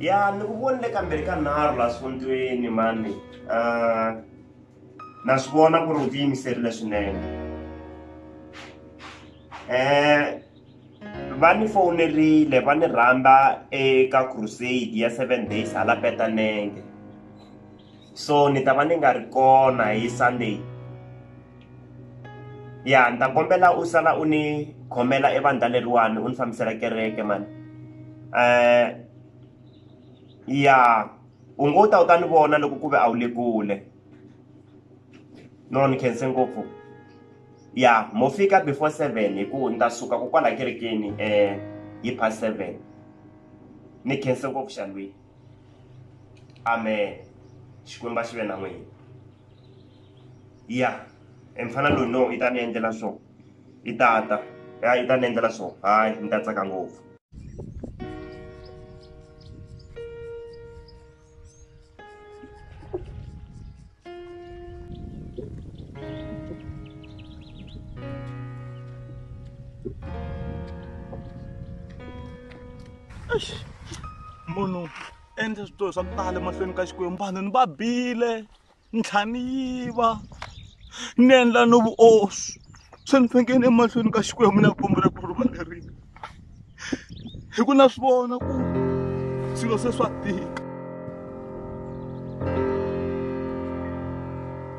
ya ni ku vonile kambirhi ka nharhu la sondzweni mani uh, na swi vona ku ri u tiyimiserile swinene um va ni fowunerile va ni rhamba eka crusade ya seven days hala petanenge so ni ta va ni nga ri kona hi sunday ya ni ta kombela u sala u ni khomela evandla leriwani u ni fambisela kereke mani um ya u ngo ta u ta ni vona loko ku ve a wu le kule no ni khense ngopfu ya mo fika before seven hi ku ni ta suka ku kwala kerekeni um eh, hi past seven ni khense ngopfu xalwini amen xikwembu a xi ve na n'wina ya e mfana loyi no i ta ni endlela swo i tata ya i ta ni endlela swo hayi ni ta tsaka ngopfu munhu endle switori swa ku tala emahlweni ka xikwembu vanhu ni va bile ntlhani yi va ni endla no vuoswi se ni fanekele emahlweni ka xikwembu ni ya kombela ku rivalerile hi ku na swi vona ku swilo se swa tika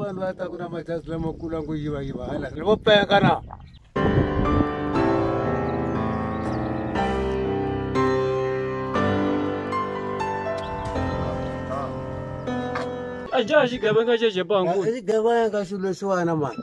vanhu va ta ku na majazi lamakulu a ngo yiva yiva hala ri vo peka na a dya xigevenga xexepangu xigevenga xilo xiwana mani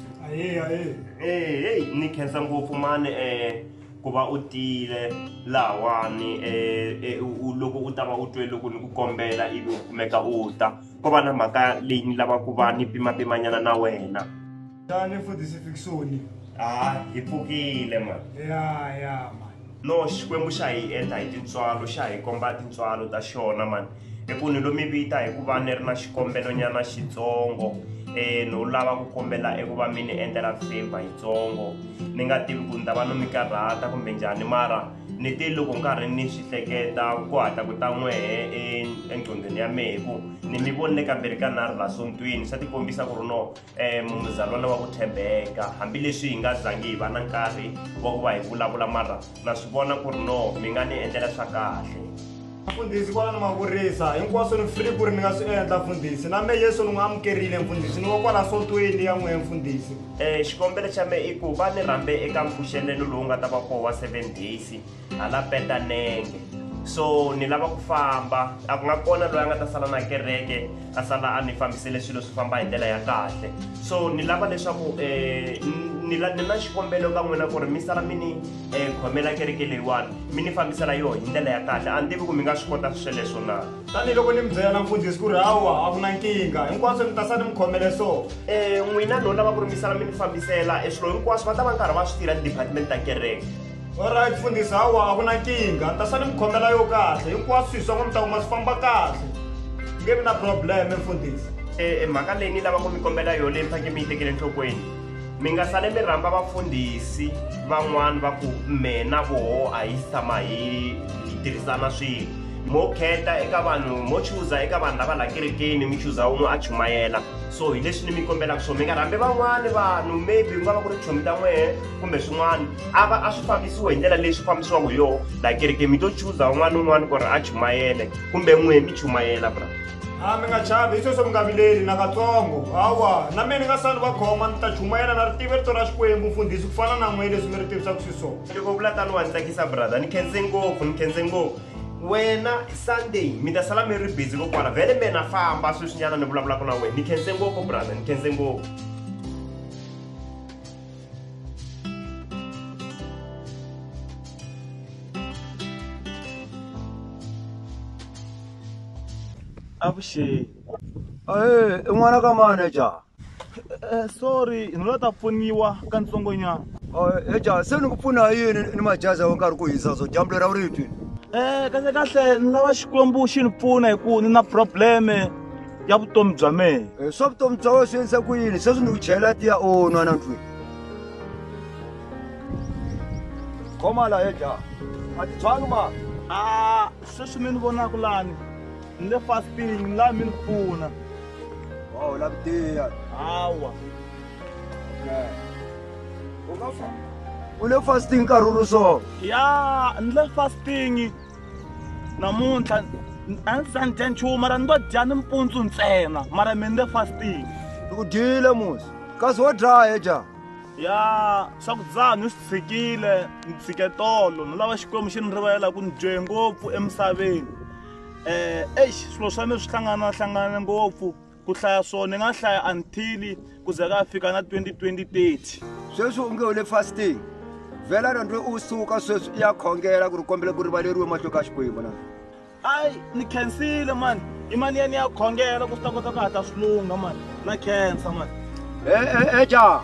ahee ahee Eh, hey, ni khensa ngopfu mani eh ku va u tile lahawani eh, eh, u- u- loko u ta va u twe loko ni ku kombela ivi u kumeka u ta ko va na mhaka leyi ni lava ku va ni pimapimanyana na wena tani futhi sifikisoni ha hi pfukile mani ya ya mani no xikwembu xa hi endla hi tintswalo xa hi komba tintswalo ta xona mani hi ku ni lo mi vita hi ku va ni ri na xikombelonyana xitsongo um no lava ku kombela eku va mi ni endlela favor yitsongo ni nga tivi ku ni ta va no mi karhata kumbe njhani mara ni te loko nkarhi ni swi hleketa ku hatla ku ta n'wehe e, engqondweni ya mehe hi ku ni mi vonile kamberi ka nharhu la sontweni swa tikombisa ku ri no um muzalwana wa ku tshembeka hambileswi hi nga zangi hi va na nkarhi wa ku va hi vulavula mara na swi vona ku ri no mi nga ni endlela swa kahle mfundhisi kwala ni mavurisa hinkwaswo ni free ku ri ni nga swi endla mfundhisi na me yesu ni n'wi amukerile mfundhisi ni wa kwala sontweni ya n'we mfundhisi um xikombelo xa me i ku va ni rhambe eka mpfuxelelo lowu nga ta va koho wa seven days hala petanenge so ni lava ku famba a ku nga kona loyi a nga ta sala na kereke a sala a ni fambisele swilo swi famba hi ndlela ya kahle so ni lava leswaku um eh, ni na xikombelo ka n'wina ku ri mi sala mi ni eh, khomela kereke leyiwani mi ni fambisela yoho hi ndlela ya kahle a ni tivi ku mi nga swi kota sweleswo na tanihiloko ni mi byela na mfundhisi ku ri hawa a ku na nkingha hinkwaswo ni ta sa ni mi khomele so um n'wina lowu lava ku ri mi sala mi ni fambisela e swilo hinkwaswo va ta va nkarhi va swi tirha ti-department ta kereke Alright mfundhisi hawa a ku na nkingha ni ta sa ni mi khomela yo kahle hinkwaswo swi swin'we mi ta kuma swi famba kahle ku nge vi na problem mfundhisi e, e mhaka leyi ni lava ku mi kombela yo leyi mi faneke mi yi tekele enhlokweni mi nga sale mi rhamba vafundhisi van'wani va ku mina voho a hi tshama hi hi tirhisana swilo mo kheta eka vanhu mo chuza eka vanhu lava la kerekeni mi chuza un'we a chumayela so hi leswi ni mi kombelaka swona mi nga rhambi van'wani vanhu maybe ku nga va ku ri chomi ta n'wehe kumbe swin'wana a va a swi fambisiwe hi ndlela leyi swi fambisiwa ngo yo la kereke mi to chuza un'wana ni un'wana ku ri a chumayele kumbe n'wihe mi chumayela bra a mi nga chavi hi sweswo mi nga vileli nakatsongo hawa na mina ni nga sali va khoma ni ta chumayela na ri tive rito ra xikwembu mfundhisi ku fana na n'we leswi mi ri tivisaka swiswona loko vula tani wa ni tsakisa brother ni khense ngopfu ni khense ngopfu wena sunday mi ta sala mi ri busy kokwana vhele mina famba sweswinyana ni vulavulaka na wena ni khense ngopfu brother ni khense ngopfu avuxeni Eh, i n'wana ka manager Eh, sorry ni la ta pfuniwa ka ntsongonyana Eh, eja se ni ku pfuna hi yini ni majazi ya nkarhi ku hisa so dyambu lera u ri twi um kahle kahle ni lava xikwembu xi ni pfuna hi ku ni na probleme ya vutomi bya mehe Eh, swa vutomi bya wena swi endlisa ku yini sweswi ni ku chela tiya o nwa na ndlwini khoma la eja a ti tshwangi ma a sweswi mi ni vonaka lani ni le fasting ni laha mi ni pfuna wa u lavi tiya hawa u nga fa u le fasting nkarhi wu ri so ya ni le fasting namuntlha a ndzi za ni dya nchumu mara ni ngo dya ni mpundzu ntsena mara mi ni le fasting u dyile musi kasi wo dlaya dya ya swakudya ni swi tshikile ni tshike tolo ni lava xikwembu xi ni rivalela ku ni dye ngopfu emisaveni um eh, exi swilo swa mi swi hlanganahlangane ngopfu ku hlaya swona ni nga hlaya until ku ze ka fika na 202030 sweswi u nge u le fasting vhela randwe u suka sweswi i ya khongela ku ri kombela ku rivaleriwe mahlo ka xikwembu na ayi ni khensile mani i mani ya ni ya khongela ku swi ta kota ku hatla swi lungha mani na khensa mani e-e-e ja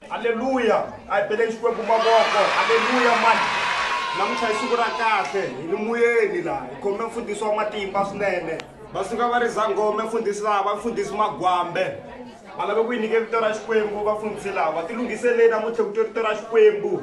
Haleluya! A hi beleni Xikwembu mavoko. Haleluya mani! Namuntlha hi siku ra kahle, hi ni muyeni laha, hi khome mfundhisi wa matimba swinene. Va suka va ri Zangome mfundhisi laha, va mfundhisi Magwambe. Va lave ku yi nyike vito ra Xikwembu vafundhisi lava. Tilunghiseleni namuntlha ku twa vito ra Xikwembu.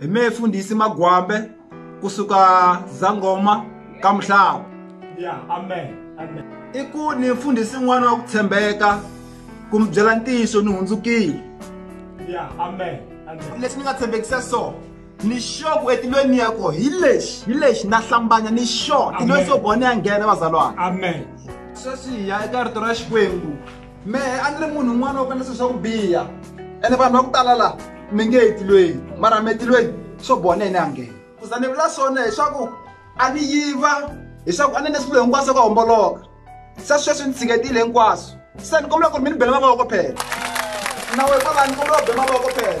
hi me fundhisi magwambe kusuka zangoma ka mhlava yeah, amen, amen. i ku ni mfundhisi n'wana wa ku tshembeka ku mi byela ntiyiso ni hundzukile yeah, amen, amen. leswi ni nga tshembekisa so ni sure ku etilweni ya ko hi lexi hi lexi na hlambanya ni sure tilweni so bone ya nghena vazalwana amen sweswi hi ya eka rito ra xikwembu mehe a ni ri munhu un'wana wo kanisa swa ku biha ene vanhu va ku tala laha mi nge etilweni mara mi etilweni swo boha na yena a nghena ku za ni vula swona hileswaku a ni yiva hileswaku a ni ne swilo hinkwaswo ka homboloka se sweswi ni tshiketile hinkwaswo se ni kombela ku ri mi ni bela mavoko phela nawe kwalani kombela u be mavoko phela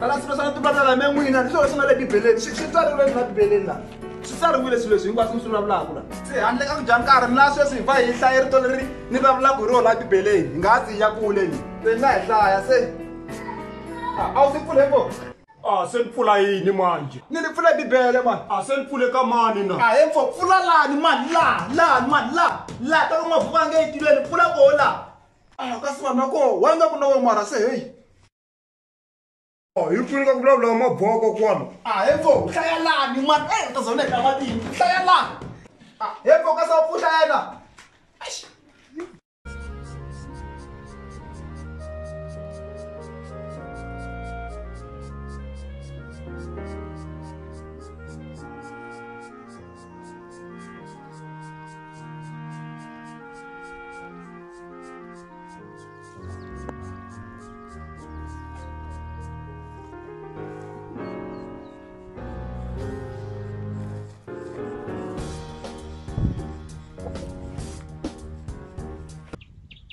tala swilo swa timbala la me n'wina ni swilo leswi nga le bibeleni swi tsariwile na bibeleni la swi tsariwile swilo leswi hinkwaswo mi swi vulavulaka la se handle ka ku dya nkarhi mi la sweswi hi va hi hlaye rito leri ni vulavulaka hi rona bibeleni hi nga ha tsiya kule ni se ni nga hi hlaya se a wu si pfule ko a se ni pfula yini manje ni ni pfule bibele mani a se ni pfule ka mani na a he mpfo pfula lani mani laha lani mani laha laha ta loko mavuka a nge yi tiveni pfula koho laha a kasi vanhu va koho wa nga ku na wo mara se heyi hi pfuni ka ku vulavula maboko kwano a he ko hlaya lani mani e u ta zona eka matini hlaya lani a he ko ka sa u pfuhla yena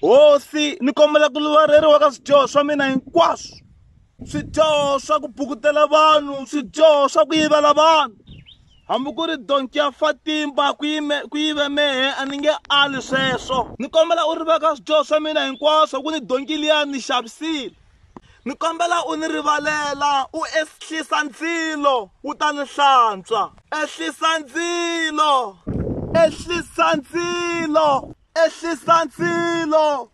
hosi ni kombela ku luvareriwa ka swidyoho swa mina hinkwaswo swidyoho swa ku bukutela vanhu swidyoho swa ku yivela vanhu Hambi ku ri donki ya Fatimba ku yime- ku yive mehe, a ni nge ali sweswo. Ni kombela u riveka swidyoho swa mina hinkwaswo, ku ni donki liya ni xavisile. Ni kombela u ni rivalela, u ehlisa ndzilo, wu ta ni hlantswa. Ehlisa ndzilo! Ehlisa ndzilo! Ehlisa ndzilo!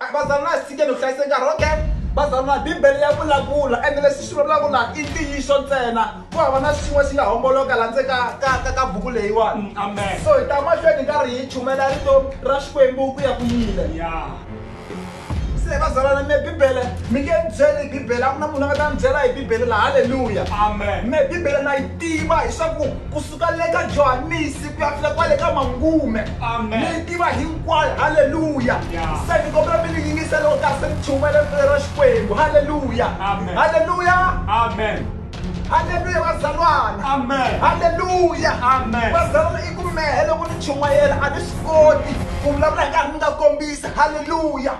A Bazalwana hi tshikeni ku hlayisa nkarhi, okay? Bazalwana, Bibele ya vulavula, ende leswi swi vulavulaka laha i ntiyiso ntsena. Ku hava na xin'we xi nga homboloka laha ndzeni ka, ka, ka, ka buku leyiwani. Amen. So hi ta mahlweni hi karhi hi chumayela Rito ra Xikwembu ku ya ku yile. Yeah. Se vazalwana me Bibele, mi nge ni byeli hi Bibele, a ku na munhu a nga ta ni byela hi Bibele laha. Haleluya! Amen. Me Bibele na yi tiva hi swa ku, ku. suka le ka johanisi ku ya fika kwale ka mangume ni yi tiva hinkwayo halleluya se ni kombela mi ni yingisela u ta se ni chumayela ripfelo ra xikwembu halleluya halleluya halleluya vazalwana halleluya vazalwana i ku mehe loko ni chumayela a ni swi koti ku vulavula hi nkarhi ni nga kombisa halleluya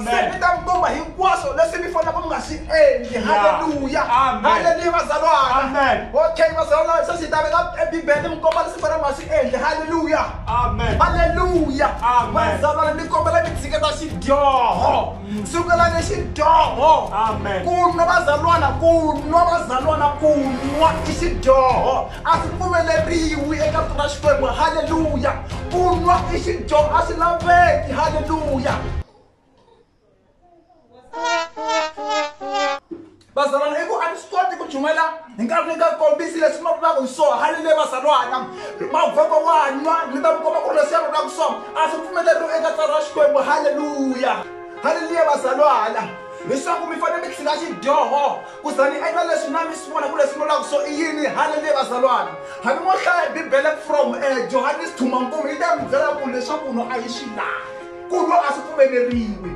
se ni ta mi komba hi hinkwaswo leswi mi fanelaka mi nga swi endli halleluya halleluya vazalwana okay vazalwana se swi ta veka ebibele mi komba leswi fanele mi nga swi endli halleluya halleluya vazalwana ni kombela mi tshiketa xidyoho sukela ni xidyoho ku nwa vazalwana ku nwa vazalwana ku nwa i xidyoho a swi pfumeleriwi eka tona xikwembu halleluya ku nwa i xidyoho a swi laveki halleluya vazalwana i ku a ni swi koti ku jumela hi nkarhi ni nga kombisi leswi ma vulaka hi swona hali leyi vazalwana mavoko wa nwa ni ta mi komba ku ri leswi ya vulaka swona a swi pfumeleriwa eka tsari ra xikwembu halleluya halleluya vazalwana leswaku mi fanele mi tlhela xidyoho ku za ni endla leswi na mi swi vona ku leswi mi vulaka swo i yini halleluya vazalwana hambi mo hlaya bibele from um johannes thumankumu yi ta mi byela ku leswaku no a yi xi laha ku nwa a swi pfumeleriwi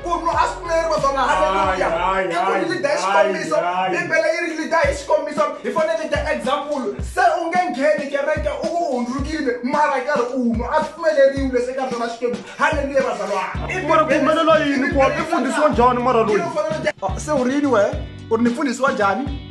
ku nwa a swi pfumeleriwi vatsona haleluya i ku ri lida hi xikombiso bibele yi ri lida hi xikombiso hi fanele lida example se u nge ngheni kereke u ku hundzukile mara karhi u nwa a swi pfumeleriwi leswi eka byona xikwembu haleluya vazalwanamara ku humelela yini ku i fundhisiwa njhani mara loyi se u rini wehe u ri ni fundhisiwa njhani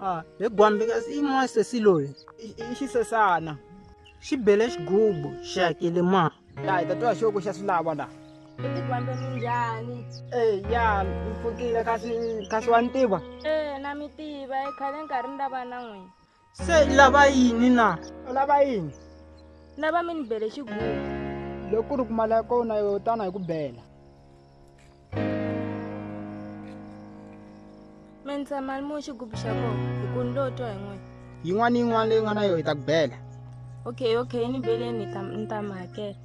Ah, he gwambi kasi i n'wansesi loyi i- i xisesana xi bele xigubu xi hakele ma laha ta twa xoko xa swilava laha Tikwambe minjhani? Eh, ya mpfukile kasi kasi wa ni tiva Eh, na mi tiva, eh, khale nkarhi ni lava na n'wina. se i lava yini na u lava yini lava mi ni bele xigugu loko ku ri ku mali ya kona yo tana hi ku bela mi ndza mali mu xigubu xa kona hi ku ni lo twa hi n'wina yin'wana ni yin'wana leyi nga na yona hi ta ku bela okay okay ni beleni ni ta ni ta mi hakela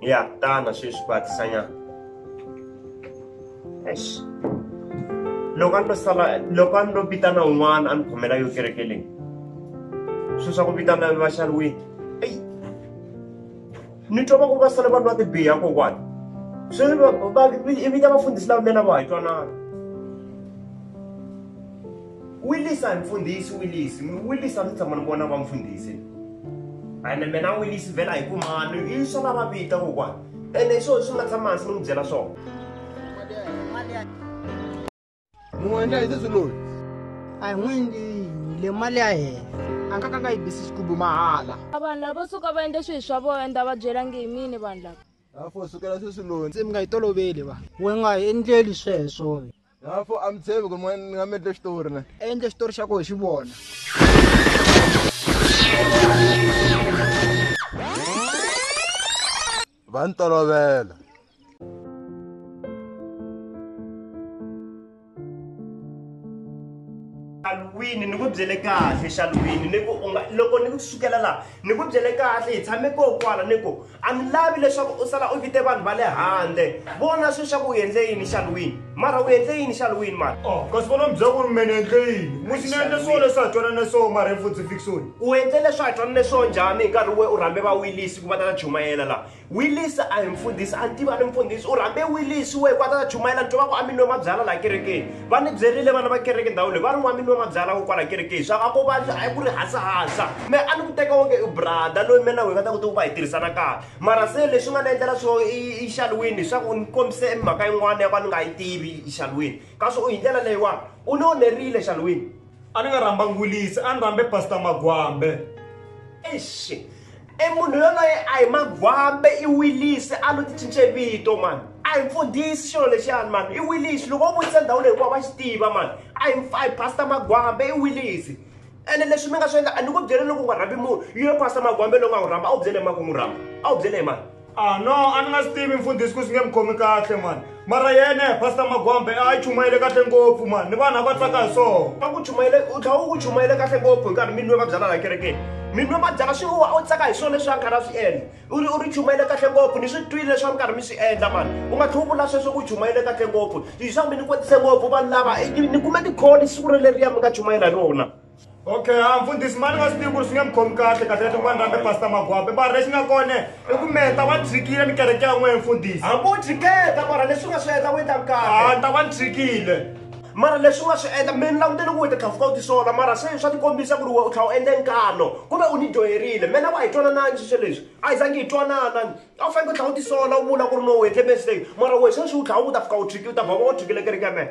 Ya, ta na sweswi ku hatlisanyana. Eish. Loko a ni lo sala loko a ni lo vitana un'wana a ni khomela yo kereke leyi. Swilo swa ku vitana va xariwile. Eyi. Ni twa va ku va sale vanhu va tibiha kokwani. Sweswi va va vita vafundhisi lava mina va hi twanana. Wilisa mfundhisi Wilisi mi Wilisa mi tshama ni vona va mfundhisi ene mina Wilisi vhela hi ku mani i swa lava vita kokwana ene swona swi nga tshama hansi ni n'wi byela swona n'wi endla hi sesi loyi a hi n'wi endlini le mali ya hena a nga ka nga yi bisi xigubu mahala vanhu lavo suka va endle swilo swa vona nda va byelangi hi mini vanhu lava afo sukela sesi loyi se mi nga yi toloveli va we nga hi endleli sweswo Lapho a mi tshembi ku ri n'wana ni nga mi endle xitori ne. Endle xitori xa ku hi xi vona. Va ni tolovela. xalwini ni ku byele kahle xalwini ni ku unga loko ni ku sukela laha ni ku byele kahle hi tshame ko kwala ni ku A ni lavi leswaku u sala u vite vanhu va le handle. Vona sweswi ku u endle yini xaluwini. Mara u endle yini xaluwini mara? Oh, kasi vona mi byela ku ri me ni endle yini? Musi ni endle swona leswi ha twanana swona mara hi futsi Fiksoni. U endle leswi ha twanane swona njhani hi nkarhi we u rhambe va Willis ku va ta ta chumayela la? Willis a hi mfundhisi, a ni tivi a ni mfundhisi. U rhambe Willis we ku a ta ta chumayela ni twa va ku a mi nwe mabyala la kerekeni. va ni byerile vana va kereke ndhawu leyi va ri n'wanini wa mabyala wo kwala kereke hi swa a ko vandla a yi ku ri hasahasa me a ni ku teka wonge i brada loyi mina wi nga ta ku tiku va hi tirhisana kahle mara se leswi nga ni endlela swo i xalwini swa ku ni kombise mhaka yin'wana ya ku a ni nga yi tivi xalwini kasi u hi ndlela leyiwani u ni onerile xalwini a ni nga rhamba ngulisi a ni rhambe pastor magwambe eish e munhu yoloye a hi magwambe i wilisi a lo ti cince vito mani a hi mfundhisi xilo lexiyani mani i wilisi loko u vutisa ndhawu leyi hikuva va xi tiva mani a hi a hi pastor magwambe i wilisi ene leswi mi nga swi endla a ni ku byele loko u nga rhambi munhu yi yo pastor magwambe lowu nga n'wi rhamba a wu byele hi mani ku n'wi rhamba a wu byele hi mani Ah no, a ni nga swi tivi mfundhisi ku swi nge mi khomi kahle mani. Mara yena Pastor Magwambe a yi chumayele kahle ngopfu mani, ni vanhu a va tsaka hi swona. A ku chumayele, u tlhela u ku chumayele kahle ngopfu hi nkarhi mi nwe va byala laha kerekeni. Mi nwe va byala swi u tsaka hi swona leswi a karhi a swi endla. U ri u ri chumayele kahle ngopfu, ni swi twile leswi a mi karhi mi swi endla mani. U nga tlhela u vula sweswo ku chumayele kahle ngopfu. Hi swa ku mi ni kwetise ngopfu vanhu lava, ni kume tikholi siku releriya mi nga chumayela hi rona. okay a mfundhisi mani nga swi tivi ku ri swi nge mi khomi kahle kahle leti n'wana rambe pasta magwape mara lexi nga kone i ku meta wa tshikile ni kereke ya n'wehe mfundhisi hambi u tshiketa mara leswi nga swi endla u endla kahle a ni ta va ni tshikile mara leswi nga swi endla mi ni langutele ku u ti tlhafuka u tisola mara se swa tikombisa ku ri we u tlhela u endle nkano kumbe u ni dyoherile mina wa hi twananani sweswo leswi a hi zangi hi twanana a wu faneke u tlhela u tisola u vula ku ri no u endle mistake mara we sweswi u tlhela u ta fika u tshiki u ta vhava u tshikile kereke ya mena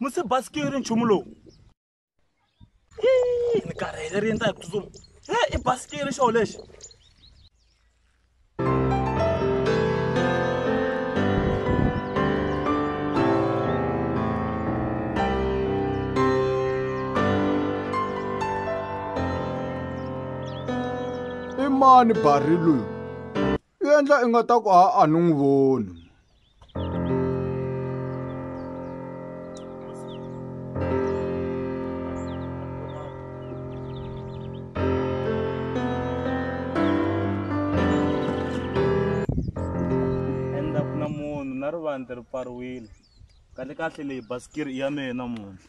musi basikiri nchumu lowu ni karhele ri endla hi ku tsutsuma e i basikiri xoho lexi i mani bari loyi u endla i nga ta ku a a ni n'wi voni kahle kahle leyi basikiri i ya mehe namuntlha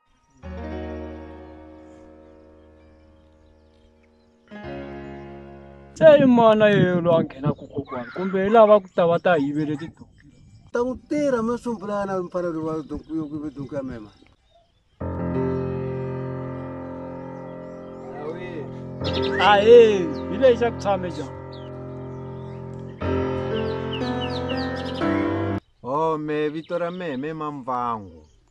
se i mana yelo a nghena ku kokwana kumbe hi lava ku ta va ta yivele tidonki ta n'wi tirha mi sumbulana mfana loyi wa donki yo kuve donki ya mema ahe hi lexi xa ku tshame ja home vito ra mehe me mamvangu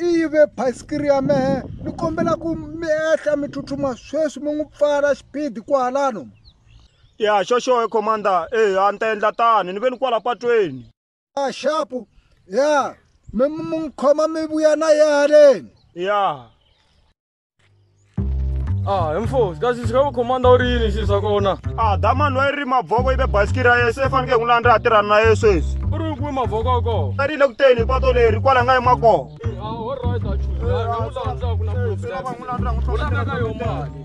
i yive bayisikiri ya mehe ni kombela ku mi ehla mi tsutsuma sweswi mi n'wi pfala xipidi kwalano ya xoxoe commander e a ni ta endla tani ni ve ni kwala patweni a xapu ya mi n'wi khoma mi vuya na ye haleni ya Ah, hi mfosi kasi swi nga ku khomanda u ri yini xilo swa kona a damani wa yi ri mavoko ive basikiri ya yena se fanekele n'wi landza a tirhana na yena sweswi u ri kumi mavoko ya kona a ri le ku teni hi pato leri kwala nga yima kona u landza ka yo mali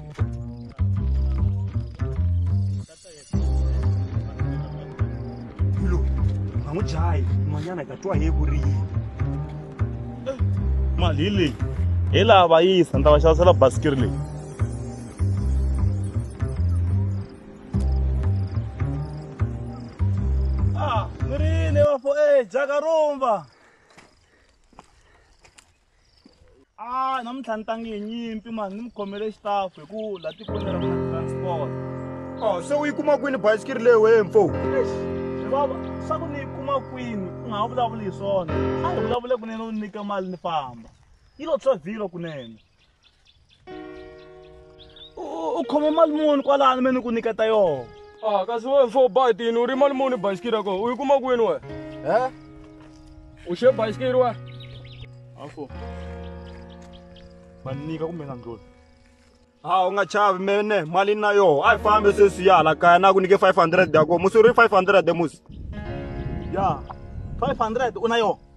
Milo, n'wi dlayi n'wanyana ka twa hi ku ri yini mali hi leyi hi laha va yisa ni ta va xavisela basikiri leyi ah, mirini wafo e eh, jakarumba a namuntlha ni tangi hi nyimpi mani ni mi khomele xitafu hi ku la tikweni ra mina transport o se u yi kuma kwini bayisikiri leyi wee mfo baba swa ku ni yi kuma kwini u nga ha vulavuli hi swona a hi vulavule kunene u nyike mali ni famba yi lo tshovhilo kunene u khome mali muni kwalani me ni ku nyiketa yona a ah, kasi we mfo batini u ri mali muni bayisikiri yako u yi kuma kwini we e u xe bayisikiri we afo va nyika kumbe nga ndloli ha u nga chavi mene mali na yoho a yi fambe sweswi ya hala kaya na ku nyike 500 yako musi u ri 500 musi ya 500 u na yoho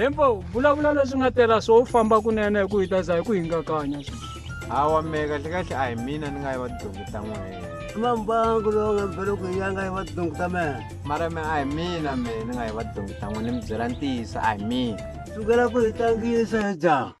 hembo vulavula leswi nga tela swo u famba kunene hi ku hi ta za hi ku hingakanya hawa meka hle kahle a hi mina ni nga yi va tidongi ta n'wena mambangu lowu nga mbele ku ya nga yi va tidongi ta mena mara me a hi mina me ni nga yi va tidongi ta n'wena ni mi byela ntiyiso a hi mina sukela ku hi tlangisa hi jaha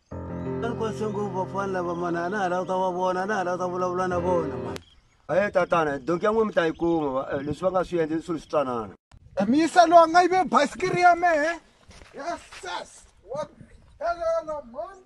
Kwase ngopfu vafana lava mani a na ha lava ta va vona a na ha lava ta vulavula na vona mani aye tatana donki ya n'we mi ta yi kuma eh, leswi va nga swi endli swilo swi twanana misa lowa nga yive basikiri ya mehe yeses wa helela mani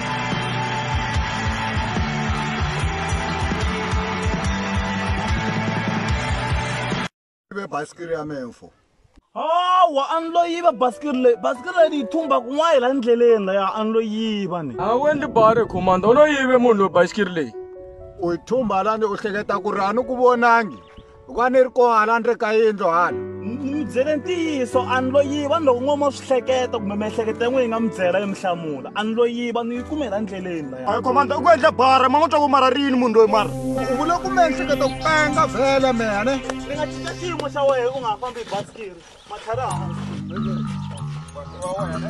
i bɛ basikiri ya mɛn fɔ awa a ni lo yiva basikiri leyi basikiri leyi ni yi thumba kun'wana hi la ndleleni laya a ni lo yiva ni a wu endli bari commanda u lo yive munhu loyi basikiri leyi u yi thumba lani u hleketa ku ri a ni ku vonangi loko a ni ri kona hala ni ri ka yindlu hala ni mi byele ntiyiso a ni lo yiva ni loko n'wama swi hleketa kumbe miehleketo ya n'we yi nga mi byela yi mi hlamula a ni lo yiva ni yi kumela ndleleni laya komanda u ku endla bara ma n'wi twa ku mara rini munhu loyi mara u vule ku miehleketo ku penga vhele mene ni nga cinca xiyimo xa wena u nga ha fambi hi basikiri matlhari hansi wa wena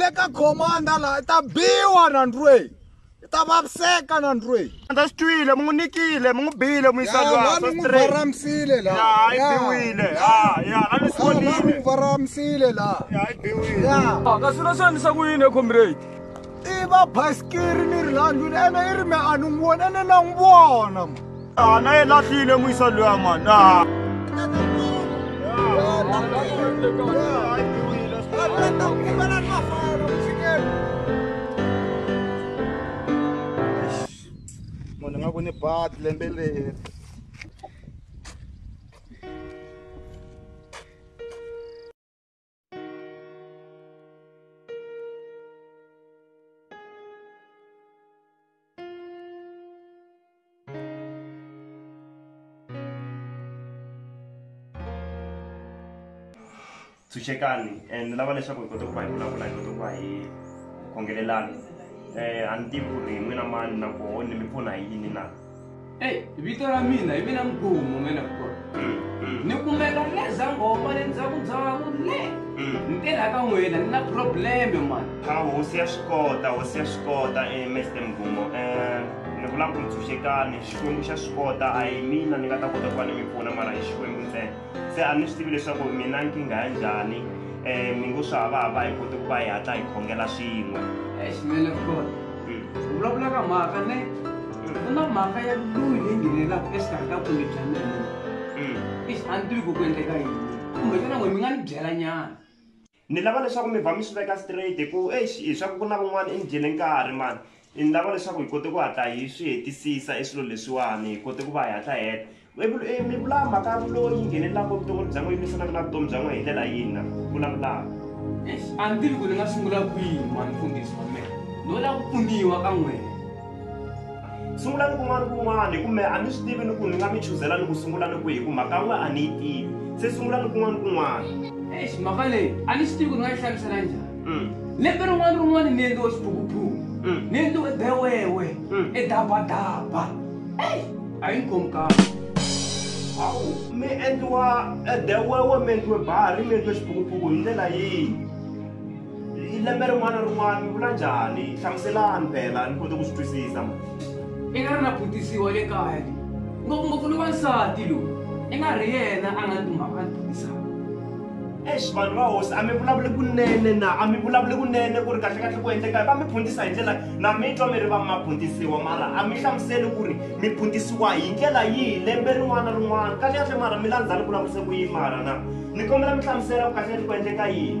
le ka khomanda laha i ta biwa na ndrweyi i ta vaviseka na ndrweyi Andza swi twile mi n'wi nikile mi n'wi bile mi yisa lwa vanhu n'wi varamisile ya laha yi biwile ya ya a ni swi vanhu n'wi vonile varamisile laha ya yi biwile ya ka swilo swi endlisa ku yini comrade i va basikiri ni ri landwini ene i ri me a ni n'wi voni ene na n'wi vona Ah, na e lahlile moisa loya mani ah. munhu nga ku ni bat lembe leri tshunxekani and ni lava leswaku hi kota ku va hi vulavula hi kota ku va hi khongelelana um a ni tivi ku ri n'wina mani nakoho ni mi pfuna hi yini na Hey, vito ra mina hi mina mgumo mina kukona ni kumeka ni le zangoma le ndzhaku ndzhaku le ni tirha ka n'wina ni na probleme mani a hosi ya swi kota hosi ya swi kota um mr mgumo um ni vula ku ntshunxekani xikwembu xa swi kota a hi mina ni nga ta kota ku va ni mi pfuna mara hi xikwembu ntsena se a ni swi tivi leswaku mina nkingha ya njhani um mi ngo swi hava hava hi kote ku va hi hatla hi khongela swin'we eximele kona vulavula ka mhaka ne ku na mhaka ya loyi leyi nghenelaka exikarhi ka kumbe bya mina ix a ni tivi ku ku endleka yini kumbe xana n'we mi nga ni byela nyana ni lava leswaku mi vha mi swi veka straight hi ku exi hi swa ku ku na van'wana i ni dyele nkarhi mani ni lava leswaku hi kote ku hatla hi swi hetisisa i swilo leswiwani hi kote ku va hi hatla heta mi vula mhaka ya vuloyi yi nghenelelaka vutomi bya n'we yi lwisanaka na vutomi bya n'we hi ndlela yini na vulavulaka a ni tivi ku ni nga sungula kwihi mani mfundhisi wa mina ni wela ku pfuniwa ka n'wena sungulani kun'wana kun'wana hi ku me a ni swi tivi ni ku ni nga mi chuzela ni ku sungula ni ku hi ku mhaka n'we a ni yi tivi se sungulani kun'wana kun'wana exi mhaka leyi a ni swi tivi ku ni nga yi hlamusela njhani mm. lembe rin'wana rin'wana ni endliwe xiphukuphuku mm. ni endliwe bewewe mm. edabadaba eyi a yi ni khomi kahle hawu mi endliwa edewewe mi endliwe bahari mi endliwe xiphukuphuku hi ndlela yihi lembe rin'wana rin'wana mi vula njhani hlamuselani phela ni kote ku swi twisisa ma i nga ri na butisiwa le kaya le ngopfungopfu lowa nsati lowu i nga ri yena a nga ni kumhaka ni butisaka ex vanhu va hosi a mi vulavuli kunene na a mi vulavuli kunene ku ri kahlekahle ku endleka va mi phuntisa hi ndlela na mi twa mi ri va ma phuntisiwa mara a mi hlamuseli ku ri mi phuntisiwa hi ndlela yihi lembe rin'wana rin'wana kahlekahle mara mi landzani ku lavurise ku yini mara na ni kombela mi hlamusela ku kahlekahle ku endleka yini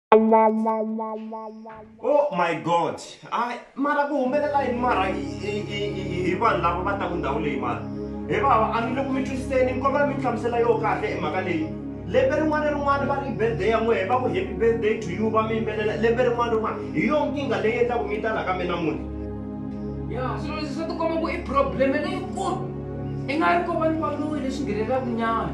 oh my god hayi mara ku humelela yini mara hi vanhu lava va taku ndhawu leyi mara he vava a ni le ku mi twisiseni ni kombela mi ni hlamusela yo kahle hi mhaka leyi lembe rin'wana ni rin'wana va ri birthday ya n'wehe va ku happy birthday to you va mi yimbelela lembe rin'wana rin'wana hi yo nkingha leyi endlaku mi ta la ka mina munhu ya swilo leswi swa tikomba ku i probleme leyikulu i nga ri ko vanhu va loyi leswi nghenelelaku nyana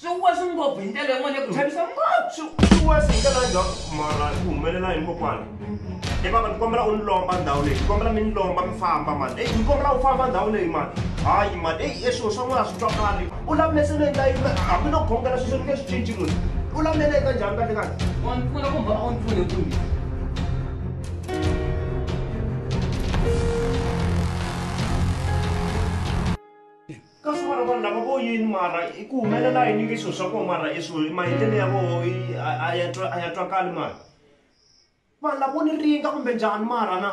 swi wasi ngopfu hi ndlela yin'wana ya ku chavisa ngopfu swi wasi hi ndlela njhani mara swi humelela yini kokwana e baba ni kombela u ni lomba ndhawu leyi ni kombela mi ni lomba mi famba mani eyi ni kombela u famba ndhawu leyi mani hayi mani eyi e swilo swa n'wana swi twakali u lamese ni endla yini hambi no khongela sweswo ni nge swi cinci munhu u lamele eka njhani kahle kahle wa ni pfuna kumbe a wu ni pfune kumbe ka swi vona vanhu lava vo yini mara i ku humelela yini nge swilo swa kona mara i swilo maendlelo ya voho a ya twa a ya twakali mara vanhu lavo ni ringa kumbe njhani mara na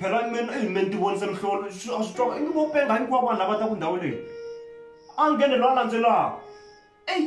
phela meni eyi meni ti vonise mihlolo a swi twa ingi vo penga hinkwavo vanhu lava ta ku ndhawu leyi a nghene loyi a landzelaka eyi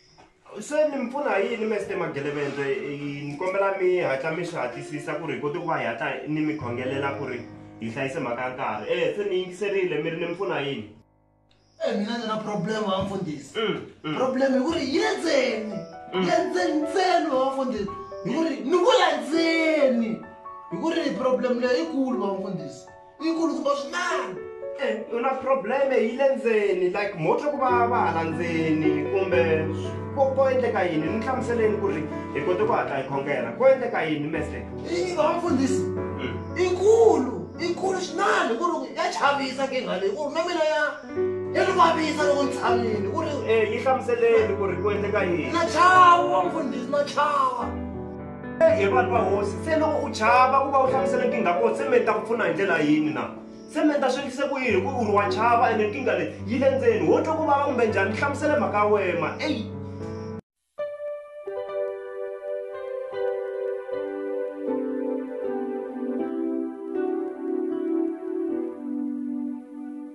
se ni mi pfuna hi yini mesite magelevendze ni kombela mi hatla mi swi hatlisisa ku ri hi koti ku va hi hatla ni mi khongelela ku ri hi hlayise mhaka ya nkarhi e se ni yingiserile mi ri ni mi pfuna yini e mina ndzi na problem wa mfundhisi mm, mm. problem hi ku ri yenzeni mm. yenzeni ntseni wa mfundhisi hi ku ri ni ku landzeni hi ku ri problem leyi yikulu wa mfundhisi nkulu kumbe swinene eh, u na probleme yi le ndzeni like motlo ku va va hala ndzeni kumbe ko ko endleka yini ni hlamuseleni ku ri hi kote ku hatla hi khongela ko endleka yini mese yini va vafundhisi hmm. inkulu inkulu swinene ku ri ya chavisa nkingha leyi ku ri na mina ya ya ni vavisa loko ni tshamile ku ri eh, yi hlamuseleni ku ri ku endleka yini na chava mfundhisi na chava he vanhu va hosi se loko u chava ku va u hlamusela nkingha kona se mi ta ku pfuna hi ndlela yini na se mi ta swi endlise ku yini hikuva u ri wa chava ene nkingha leyi yi le ndzeni wo twa ku vava kumbe njhani mi hlamusele mhaka ya wema eyi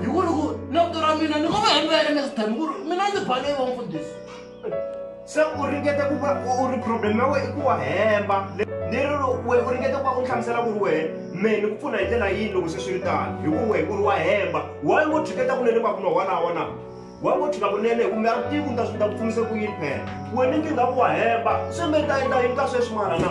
hi ku ri ku navito ra mina ni ngo va hembe ya next time ku ri mina ndzi bale yi va mfundhisi se u ringete ku va u ri problem ya wena i ku wa hemba leri we u ringete ku va u hlamusela ku ri wehe me ni ku pfuna hi ndlela yini loko se swi ri tano hi ku wehe ku ri wa hemba wayi ngo tshiketa kunene va kunwa wana wana wa ngo tshika kunene kumbe a tivi ni ta swi ta ku pfunise ku yini phela wena nkingha ku wa hemba se me ta endla yini ka sweswi mara na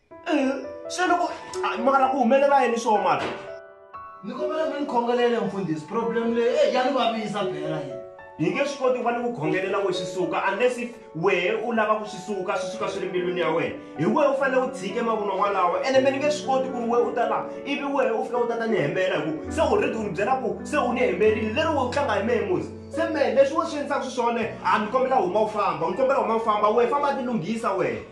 se loko mara ku humelela yini swo mati ni kombela mi ni khongelele mfundhisi problem leyi eh, ya ni vavisa bela yini hi nge swi koti va ni ku khongelela we swi suka unless if wehe u lava ku swi suka swi suka swi ri mbilwini ya wena hi wehe u fanele u tshike mavunwa walawa ene me ni nge swi koti ku ri wehe u ta laha ivi wehe u fika u ta ta ni hembela hi ku se u redi u ni byela ku se u ni hemberile leri we u tlanga hi mehe musi se mehe leswi wo swi endlisaka swi swona a ni kombela huma u famba ni kombela huma u famba wehe famba ti lunghisa wehe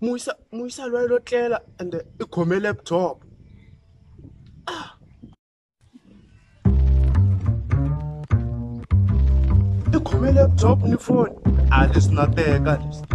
muyisa muyisa lwayi lo tlela ende i khome laptop i khome laptop ni foni a leswi na teka leswi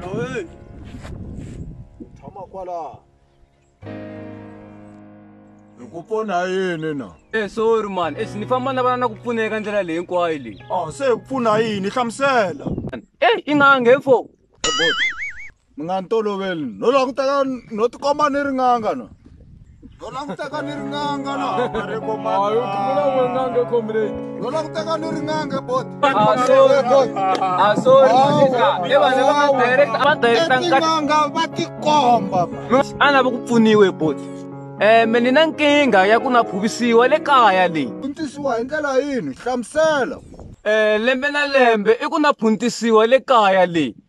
Loyi. Tshama kwala. Hi ku pfuna yini na? Eh sorry man, eh ni famba na vana na ku pfuneka ndlela leyi hinkwayo leyi. Ah se hi ku pfuna yini? Hlamusela. Eh i nga nge fo. mi nga ni toloveli no languteka no tikomba ni ringanga no no languteka ni ringanga no no languteka ni ringanga bot etinganga va tikomba ana va ku pfuniwe bot um ni na nkingha ya ku na phuvisiwa le kaya leyi puntisiwa hi ndlela yini hlamusela um lembe na lembe i ku na phuntisiwa le kaya leyi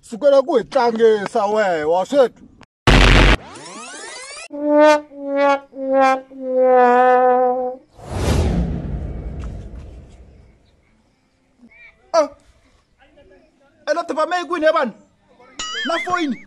sukela ku hi tlangisa wehe wa swethu ah. elo tipame yi kwini ya vanhu na foyini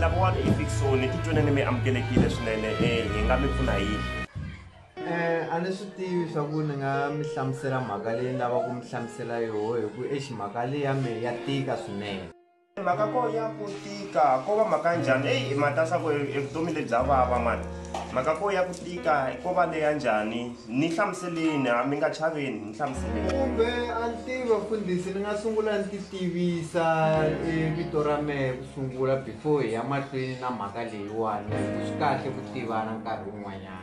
lava wa ni efikisoni titwaneni mi amukele kile swinene e hi nga mi pfuna yini a ni swi tivi swa ku ni nga mi hlamusela mhaka leyi ni lava ku mi hlamusela yoho hi ku exi mhaka leyi ya mehe ya tika swinene mhaka ko ya ku tika ko va mhaka njhani eyi i mati a swa ku evutomi lebya vava mani mhaka ko ya ku tika ko va leya njhani ni hlamuseleni a mi nga chaveni ni hlamuseleni kumbe a ni tivi vafundhisi ni nga sungula ni ti tivisa e vito ra mehe ku sungula before hi ya mahlweni na mhaka leyiwani swi kahle ku tivana nkarhi wun'wanyana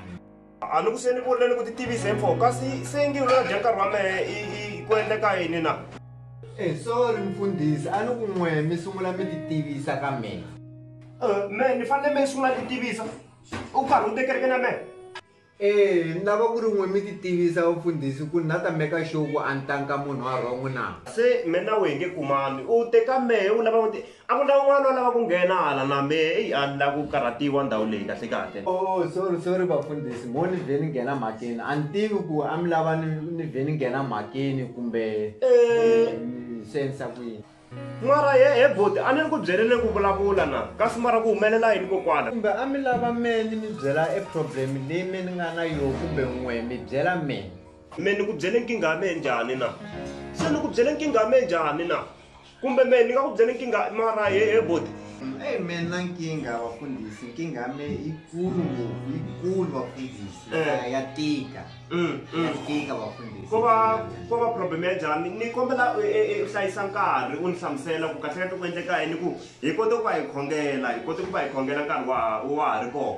a ni ku se ni vurile ni ku titivisa hi mfoko kasi se ngi ulona dya nkarhi wa mehe i ku endleka yini na e eh, sorry mfundhisi a ni ku n'we mi sungula mi titivisa ka mina eh, me ni fanele me sungula titivisa u karhi u tekereke na mehe ee ni lava ku ri n'we mi titivisa vafundhisi ku na ta meka xoku a ni tanka munhu wa rhongo na se me na wehe nge kumani u teka mehe u lava A ku na un'wana wa lava ku nghena hala na me eyi a ni la ku karhatiwa ndhawu leyi kahle kahle. Oh sorry sorry vafundhisi mo ni vhe ni nghena mhakeni a ni tivi ku a mi lava ni ni vhe ni nghena mhakeni kumbe ni swi endlisa ku yini. Mara he he buti a ni ri ku byeleni ku vulavula na kasi mara ku humelela yini kokwana. Kumbe a mi lava me ni mi byela e problem leyi me ni nga na yo kumbe n'we mi byela me. Me ni ku byele nkingha ya mehe njhani na? Se ni ku byele nkingha ya mehe njhani na? kumbe me ni nga ku byela nkingha mara he he boti eyi me na nkingha vafundhisi nkingha ya me yikulu ngopfu yikulu vafundhisi eh. ya tika mm, mm. ya tika vafundhisi ko va ko va problem ya njhani ni kombela u e, e, hlayisa nkarhi u ni hlamusela ku kahlekahle ku endleka yini ku hi kote ku va hi khongela hi kote ku va hi khongela nkarhi wa wa ha ri kona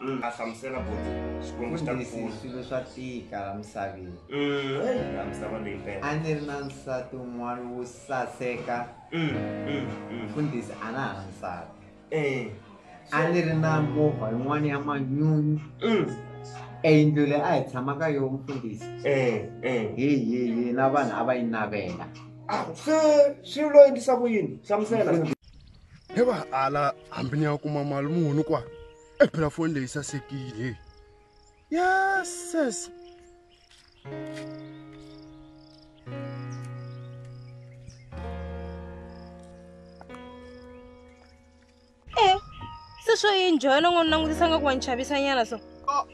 mm. a hlamusela boti xikwembu xi ta ku pfuna swilo swa tika la misaveni mm, la misava leyi mpela a ni ri na nsati un'wana wo saseka mfundhisi a na ha na nsati eh. a ni ri na movha yin'wana ya manyunyu eyindlu leyi a hi tshama ka yoho mfundhisi eh, eh. hi hi hi na vanhu a va yi navela ah, se swi lo endlisa ku yini hlamusela heva hala hambi ni ya kuma mali muni kwa e phela foni leyi sasekile yeses eh, se swo yi njhona n'wi langutisa nga ku wa ni chavisanyana so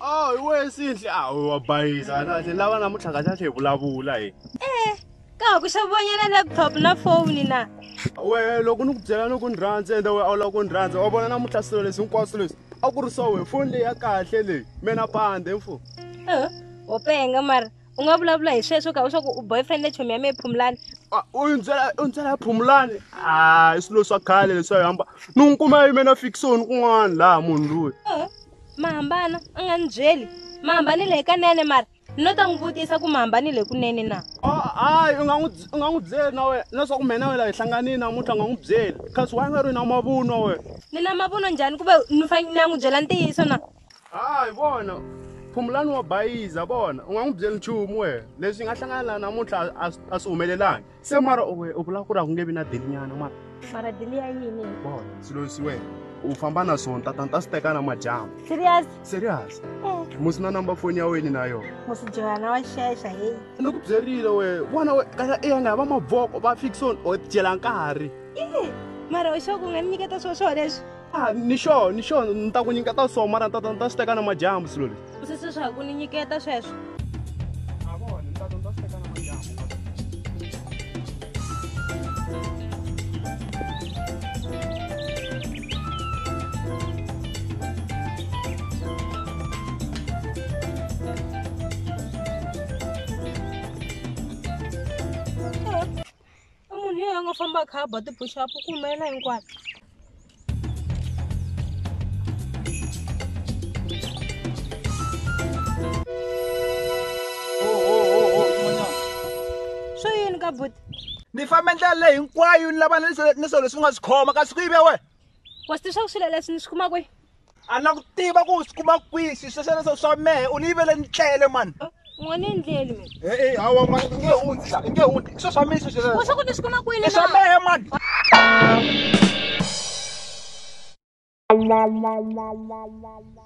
a hi wena sinhle a wa bayisa kahle lava namuntlha kahle kahle hi vulavula hi eh. ka ha ku xavonyela laptop na foni na wehe loko ni ku byela ni ku ni rhandza ende wehe a wu lava ku ni rhandza wa vona namuntlha swilo leswi hinkwaswo leswi a ku ri swa wehe foni leyi ya kahle leyi mena pande mfo wo penga mara u nga vulavula hi sweswo ka u swa ku u boyfriend chomi ya mehe phumulani u ni byela u ni byela ya phumulani a i swilo swa khale leswi a yi hamba ni n'wi kuma yi mena fikisoni kun'wana laha munhu loyi ma hambana a nga ni byeli ma hambanile hikanene mara ni lo ta n'wi vutisa ku mi hambanile kunene na hayi u nga n'wi u nga n'wi byeli na wena leswaku mina wena hi hlanganile namuntlha u nga n'wi byeli kasi wa nga ri na mavunwa wena ni na mavunwa njhani ku ve ni fanele ni ya n'wi byela ntiyiso na hayi vona phumulani wa bayiza vona u nga n'wi byeli nchumu wena leswi nga hlangana laha namuntlha a swi humelelangi se mara we u vula ku ri a ku nge vi na delinyana mara mara deli ya yini bon swilo leswi wena u famba na swona tata ni ta swi teka na madyambu serious serious Eh, musi na number foni ya wena na yona musijoyana wa xexa heyi ni ku byerile we vona we kaya eya nga va mavoko va fixon o dyela nkarhi mara u xo ku nga ni nyiketa swo swo leswi Ah, ni sure ni sure ni ta ku nyiketa so mara ni ta ni ta swi teka na madyambu swilo leswi u sese swa ku ni nyiketa sweswo i munhu yeyi a nga famba a kha a ba tibuxapu ku humelela hinkwato swo yini ka buti ni fambe ndlela leyi hinkwayo ni lava ni swilo leswi u nga swi khoma kasi ku yive wena wa swi swa ku swilo leswi ni swi kuma kwihi a na ku tiva ku swi kuma kwihi swi swesweleswo swa mehe u ni yivele ni tlele mani n'we ni endleli mina e-e hawa mani i nge hundzi i nge hundzi i swo swa mehe swesweleswo wa swa ku ni swi kuma kwini i swa mehe mani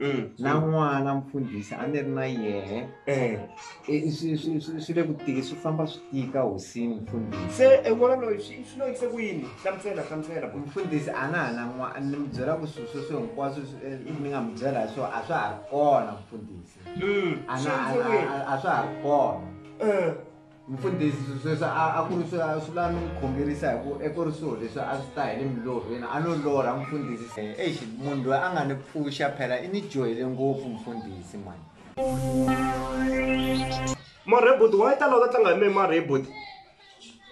mm. na n'wana mfundhisi a ni ri na yehe eh. swi le ku tiki swi famba swi tika hosini mfundhisi se en'wana loyi swi lo yise ku yini hlamusela hlamusela mfundhisi a na ha na n'wana ni mi byela ku swilo sweswo hinkwaswo eh, ni nga mi byela hi swo a swa ha ri kona mfundhisi mm, a swa ha ri kona eh. Mfundhisi, sweswo a a ku ri swa swi la mi n'wi khongerisa hi ku eku ri swilo leswi a swi ta hi le milorhweni a no lorha mfundhisi se eish munhu loyi a nga ni pfuxa phela i ni dyohele ngopfu mfundhisi mani. Marhe buti why ta lava ta tlanga hi mehe marhe buti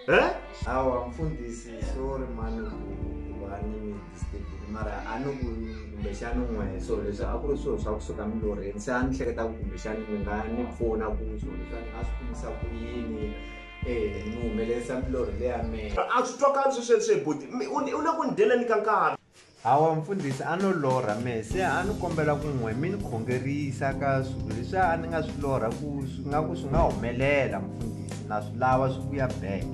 he. Hawa mfundhisi sorry mani ku ku va ni mina. mara a ni ku kumbexani n'we so leswi a ku ri swilo swa kusuka milorheni se a ni hleketa ku kumbexani mi nga ni pfuna ku swilo leswi a ni nga swi kumisa ku yini eh, ni humelerisa milorhi leya mina a swi twakali swi sweswi boti u le ku ni dyeleni ka nkarhi hawa mfundhisi a no lorha mehe se a ni kombela ku n'we mi ni khongerisa ka swilo leswi a ni nga swi lorha ku swi nga ku swi nga humelela mfundhisi na swi lava swi vuya back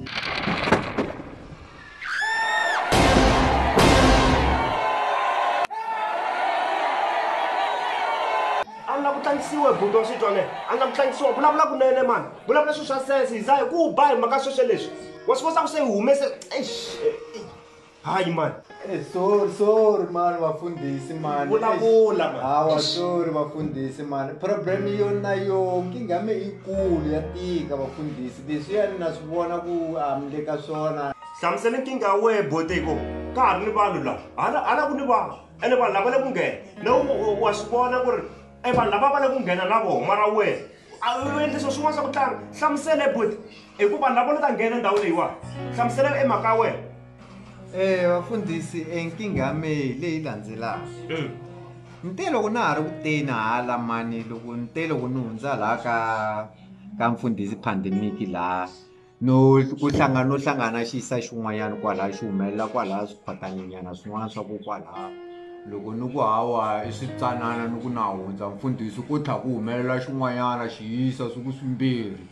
a ni la ku tlangisiwa hi buti wa xitwa leyi a ni la ku tlangisiwa vulavula kunene mani vulavula swilo swa sense hiza hi ku ba hi mhaka sweswe leswi wa swi kosa ku se hi humese eish eh, eh, hayi mani Eh, sorry sorry mani vafundhisi mani Vulavula, mani. hawa sorry vafundhisi mani problem yo na yo nkingha mi ikulu ya tika vafundhisi Leswiya ni na swi vona ku a mi le ka swona. Hlamusela nkingha ya wehe bote hi ko ka ha ri ni vanhu laha hala hala ku ni vanhu ene vanhu lava le ku nghena na wa swi vona ku ri e vanhu lava va le ku nghena na vona mara wehe a u endlisa swin'wana swa ku tlanga hlamusela hi bote hi ku vanhu lava ni ta nghena ndhawu leyiwani hlamusela e mhaka ya wena e vafundhisi e nkingha ya mehe leyi landzelaka ni te loko na ha ri ku teni hala mani loko ni te loko ni hundza laha ka ka mfundhisi pandemic laha no ku hlangana no hlangana xi yisa xin'wanyana kwalaha xi humelela kwalaha swiphatanenyana swin'wana swa ku kwalaha loko ni ku hawa i switsanana ni ku na hundza mfundhisi ku tlha ku humelela xin'wanyana xi yisa swi ku swimbirhi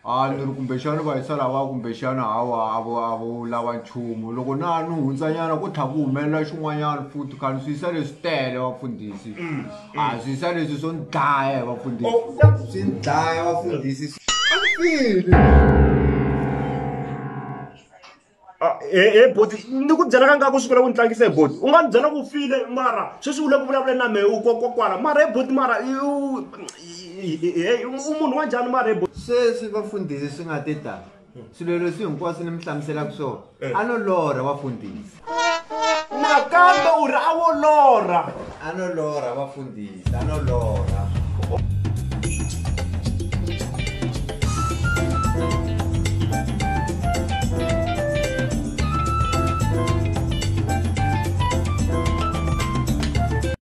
a ni ri kumbexana va yisa lava kumbexana hawa a vo a vo lava nchumu loko na ni hundzanyana ku tlha ku humelela xin'wanyana futhi kha ni swi yisa leswi tele vafundhisi mm. a mm. swi swa leswi swo ni dlaya hi vafundhisi oh, swi ni dlaya vafundhisi ah, e eh, eh, boti ni ku byela ka nkarhi ku sukela ku ni tlangisa hi e boti u nga ni byela ku file mara sweswi u le ku vulavuleni na mehe u kokwakwala mara hi e boti mara u munhu wa njhani mara hi boti sweswi vafundhisi swi nga ti tala swilo leswi hinkwaswo ni mi hlamuselaka swona a no lorha vafundhisi nakambe u ri a wo lorha a no lorha vafundhisi a no lorha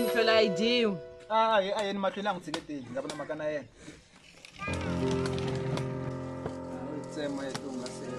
mhlwela a yi dyiwi a hi a yeni mahlweni a n'wi tshiketeli nga vona mhaka na yena tsema ya tihungasela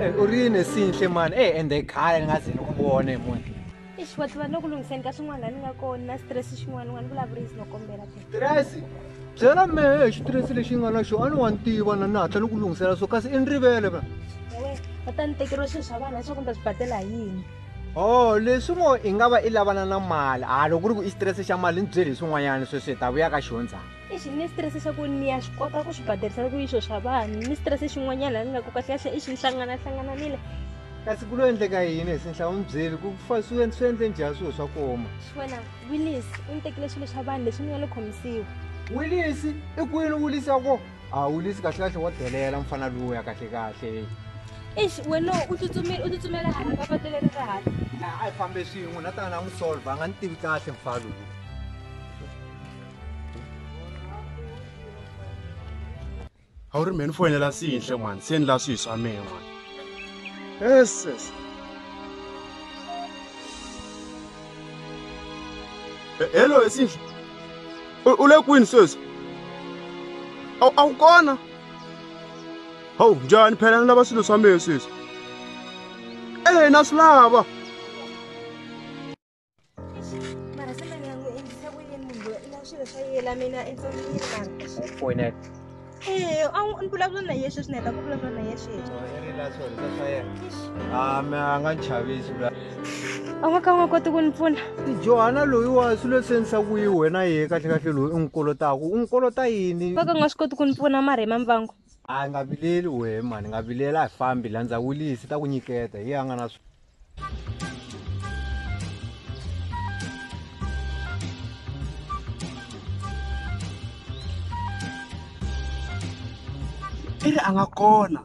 Eh, u ri yini sinhle mani e eh, ende khale ni nga ze ni ku vone munhu ixi wa tlula no ku lunghiseni ka swin'wana laha ni nga kona na stress xin'wana n'wana vulavurisi no kombela ke tirasi byela mehe xitiresi lexi nga na xo a ni wa ni tiva na ni hatla ni ku lunghisela so kasi i ni rivele va va ta ni tekeriwa swilo swa vana leswaku ni ta swi badela hi yini o leswi ngo i nga va i lavana na mali a loko ku ri ku i xitirese xa mali ni byeli hi swin'wanyana sweswi hi ta vuya ka xihondzana ixi ni xitirese xa ku ni ya swi kota ku swi baderisela ku yixo swa vanhu ni xitirese xin'wanyana ni nga ku kahlekahle i xi ni hlanganahlangananile kasi ku lo endleka yini hi sinhla u ni byeli ku fa swi swi endle njhani swilo swa koma xi wena willis u ni tekile swilo swa vanhu leswi ni nga lo khomisiwa willis i kwini willis ya ko a willis kahlekahle wa delela mfana lowu ya kahlekahle ix wena u tsutsumile u tsutsumela hala ka patu leri ra hala a yi fambe swin'we na tana na n'wi solva a nga ni tivi kahle mfana lowu a wu ri mhe ni foyinela siyinhle mani se ni la swihi swa mehe mani eses hello esiyinhle u le kwini sweswi a wu kona hawu njhani phela ni lava swilo swa mehe sweswi ehe na swi lava mara se mani ya n'wi endlisa ku yini munhu loyi na swilo swa yela mina entsandzini mara ee a ni vulavula na ye sweswi ni heta ku vulavula na ye sweswi a mi a nga chavisi a nga ka u nga koti ku ni pfuna johana loyi wa swi lo senisa ku yi wena ye kahlekahle loyi u n'wi kolotaku u n'wi kolota yini va ka nga swi koti ku ni pfuna mara hi mambango a nga vileli wehe mani nga vilela hi fambi landza wulisi ta ku nyiketa hi a nga na i ri a nga kona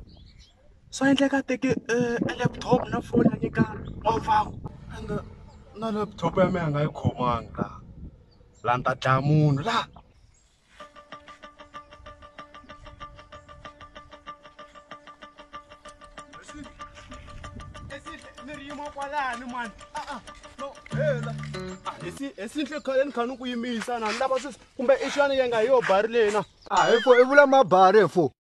swa endleka teke eh, e laptop na foni a nyika n'wavaku and eh, na laptop ya mina a nga yi khomanga laha laha ni ta dlaya munhu laha esinhle khale ni kha ni ku yimisa na ni lava sweswi kumbe i xana yi nga hi yo bari leyi na a hi fo i vula mabari fo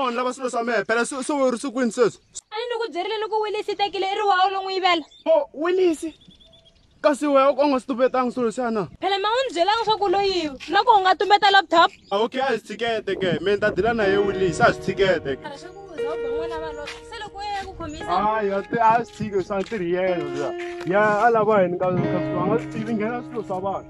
vanhu lava swilo swa mehe phela swi swi ri swi kwini sweswi a ni ku byerile loko wilisi i tekile i ri wawo lo n'wi yivela o wilisi kasi wehe u nga swi tumbetanga swilo leswiya na phela ma n'wi ni byelanga swa ku loyiwa na ku u nga tumbeta laptop ah, okay a hi swi tshikete ke mi ni ta dila na ye wilisi a hi swi tshikete ke a swi tshiki swa ntirhi yena ya a lava yini ka nga swi tivi nghena swilo swa vanhu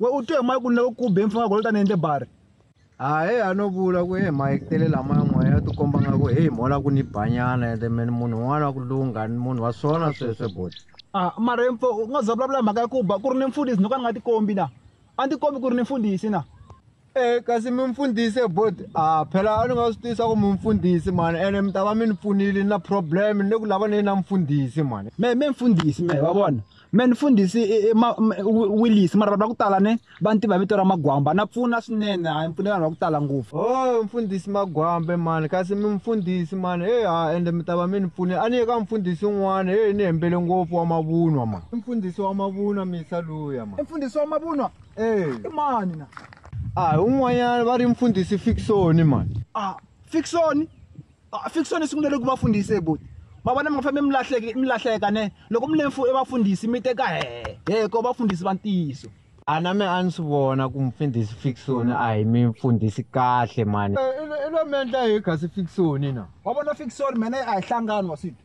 we u twe hi mike u ni lava ku be mfana golo tani endle bari a he a no vula ku he mike tele lama yan'wana ya tikomba nga ku he mola ku ni banyana ende meni munhu un'wana wa ku lungha ni munhu wa swona sweswe boti a ah, mara mfo u nga za vulavula mhaka ya ku ba ku ri ni mfundhisi ni ka ni nga tikombi na a ni tikombi ku ri ni mfundhisi na Eh, kasi mi mfundhisi bot ah phela a ni nga swi tisa ku mi mfundhisi mani ene mi ta va mi ni pfunile na problem ni le ku lava ni na mfundhisi mani me me mfundhisi me wa vona me ni mfundhisi willis mara vanhu va ku tala ne va ni tiva vito ra magwamba na pfuna swinene a ni pfune vanhu va ku tala ngopfu o oh, mfundhisi magwambe mani kasi mi mfundhisi mani e ha ende mi ta va mi ni pfunile a ni ye ka mfundhisi un'wana e ni hembele ngopfu wa mavunwa ma mfundhisi wa mavunwa misa luya ma mfundhisi wa mavunwa Eh. i mani na a hi un'wanyana va ri mfundhisi fiksoni mani a fiksoni a fiksoni sungulele ku va fundhisi eboti ma vona mi nga fambi mi lahleke mi lahleka ne loko mi lemfu i vafundhisi mi teka he he ko vafundhisi va ntiyiso a na me a ni swi vona ku mfundhisi fiksoni a hi mi mfundhisi kahle mani i lo mi endla hi kasi fiksoni na wa vona fiksoni mene a hi hlangani wa swito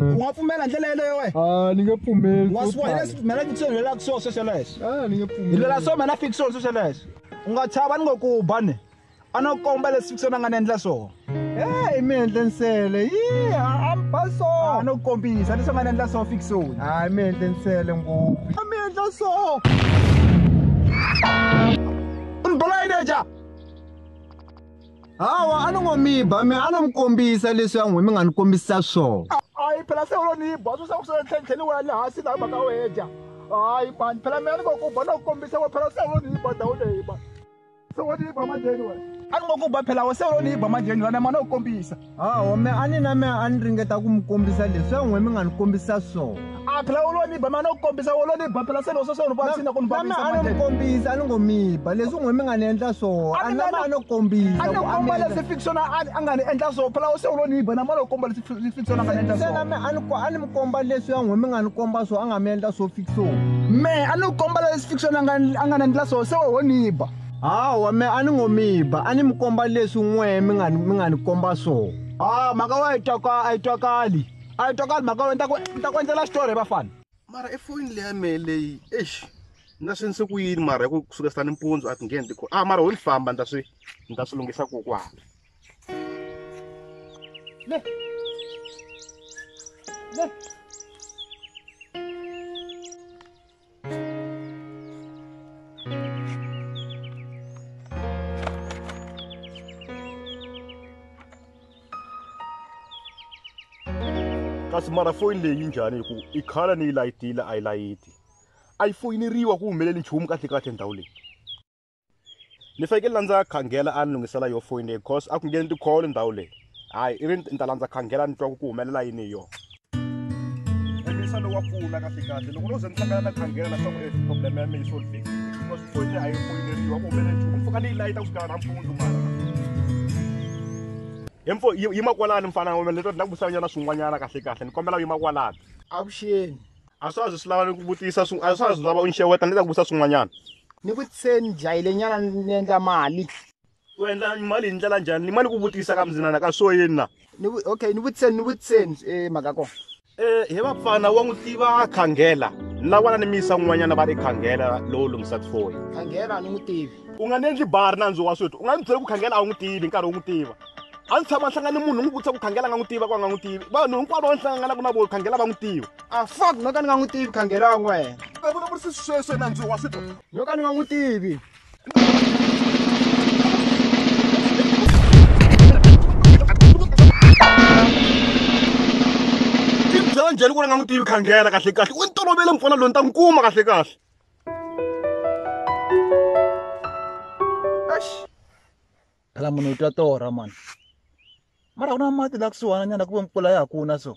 u nga pfumela ndlela yeleyo wena a ni nge pfumeli wa swo swa hina tala. mina fixo ni lwelaka swo sweswo leswo a ni nge hi pfumeli lwela swo mina fixo sweswo leswo u nga chava ni ngo ku ba ni a no komba leswi fixo na nga ni endla swona e mi endle nsele yi a mi ba so a no kombisa leswi nga ni endla swona fixoni a mi endle nsele ngopfu a mi endla so u ni bola yini eja hawa a ni ngo mi ba mi a no mi kombisa leswi ya n'wi mi nga ni kombisa swona hayi phela se ulo ni yi ba swo swa ku swi tlhentlheni wa le hansi laha mhaka u hedya hayi mani phela mina ni ngo ku ba no ku kombisa wa phela se ulo ni yi ba ndhawu leyi ba se wo ni yi ba manjheni wena a ni ngo ku ba phela wa se ulo ni yi ba manjheni wena ma no ku kombisa ha home a ni na me a ni ringeta ku mi kombisa leswi ya n'we mi nga ni kombisa swona a phela u lo ni ba mane u kombisa u lo ni ba phela se loko sweswi u ni vavisina ku ni name a no mi kombisa a ni ngo mi ba leswi n'we mi nga ni endla swona a name a no kombisa a ni komba leswi fiction a nga ni endla swona phela u se u lo ni ba name a lo komba leswi fiction a nga ni endla swona name a ni a ni mi komba leswi ya n'we mi nga ni komba swona a nga mi endla swo fiction me a ni komba leswi fiction a nga a nga ni endla swona se wo ni ba Hawa me a ni ngo mi ba, a ni mi komba leswi n'we mi nga mi nga ni komba swona. Ah, mhaka wa yi twaka a yi twakali. A yi twakali mhaka wena, ni ta ku ni ta ku endlela xitori he vafana. Mara e foyini leya mehe leyi, eish ni ta swi endlise ku yini mara hi ku ku sukela nimpundzu a ti ngheni ti ah mara ho ni famba ni ta swi ni ta swi lunghisa kokwana. Le. Le. kasi mara foyini leyi njhani hi ku i khala ni yi layitile a yi layiti a yi foyineriwa ku humeleli nchumu kahle kahle ndhawu leyi ni fanekele la ndza khangela a ni lunghisela yo foyini leyi because a ku ngheni tikholo ndhawu leyi hayi i ri ni ta landza khangela ni twa ku ku humelela yini hi yona emisa lowu wa pfuna kahle kahle loko no ze ni hlangana na khangela leswaku e problem ya mina yi solvekile because foyini a yi foyineriwa ku humelela nchumu mpfuka ni yi layita ku fikela nampundzu mara hemfo yima kwalani mfana wa mina leto ni na ku vusanyana swin'wanyana kahle kahle ni kombela u yima kwalani avuxeni A swa ha zi swi lava ni ku vutisa swi a swa ha zi lava u ni xeweta ni ta ku vutisa swin'wanyana. Ni ku se ni dlayile nyana ni endla mali. U endla mali hi ndlela njhani? Ni ma ni ku vutisa ka mzinana ka swo yini na? Ni vu okay ni vutiseni ni vutiseni e mhaka ko. E he vapfana wa n'wi tiva Khangela ni la vona ni mi yisa n'wanyana va ri Khangela lowo lunghisa tifoyi. Khangela a ni n'wi tivi. U nga ni endli bar nandzu wa swithu u nga ni byeli ku Khangela a wu n'wi tivi nkarhi u n'wi tiva. A ni tshama ni hlangana ni munhu ni n'wi vutisa ku Khangela a nga n'wi tiva ku a nga n'wi tivi vanhu hinkwavo lava ni hlanganaka na vo Khangela va n'wi tiva. a fak no ka ni nga n'wi tivi khangela n'wena a vulavurisi sweswo nandzu wa switwa no ka ni nga n'wi tivi byela njhani ku ri nga n'wi tivi khangela kahle kahle u ni tolovele mufana loyi ni ta n'wi kuma kahle kahle phela munhu u twa torha mani mara ku na mati la kusuhana nyana ku ve mpfula ya ha kuna so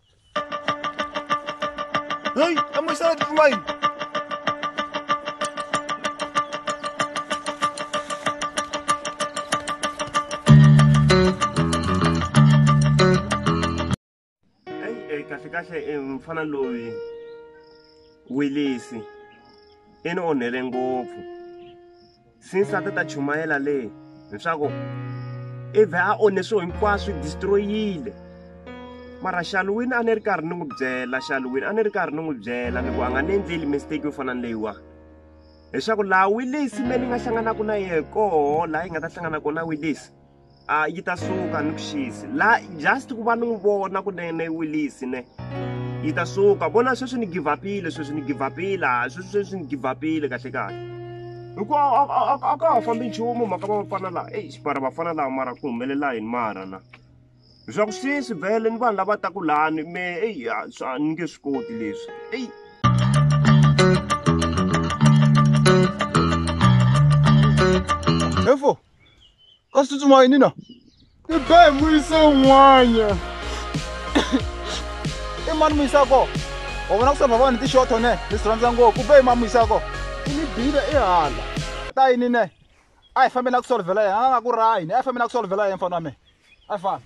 Hey, I'm excited for mine. kahle kahle eh, mfana loyi wilisi i ni onhele ngopfu since a ti ta chumayela leyi leswaku i vhe a onhe swilo hinkwaswo i destroyile mara xaluwini a ni ri karhi ni n'wi byela xaluwini a ni ri karhi ni n'wi byela ni ku a nga ni endleli mistake yo fana ni leyiwa leswaku laha wilisi me ni nga hlanganaka na yehe koho laha yi nga ta hlangana kona wilisi a yi ta suka ni vuxisi la just ku va ni n'wi vona kunene wilisi ne yi ta suka vona sweswi ni give upile sweswi ni give upile a sweswi sweswi ni give upile kahle kahle hikuva a ka ha fambi nchumu mhaka va vafana laha eyi xipara vafana laha mara ku humelela yini mara na leswaku sweswi vhele ni vanhu lava taku lani me eyi a ni nge swi koti leswi eyi Info. kasi tsutsuma yini na i be hi muyise un'wanya i mani muyisako wa vona ku samba vanhu tixotho ne ni swi rhandza ngopfu u be hi mani muyisako i ni bile i hala ta yini ne a hi fambeni a ku solvhela yena a nga ku rahini a hi fambeni a ku solvhela yena mfana wa mina a hi fambi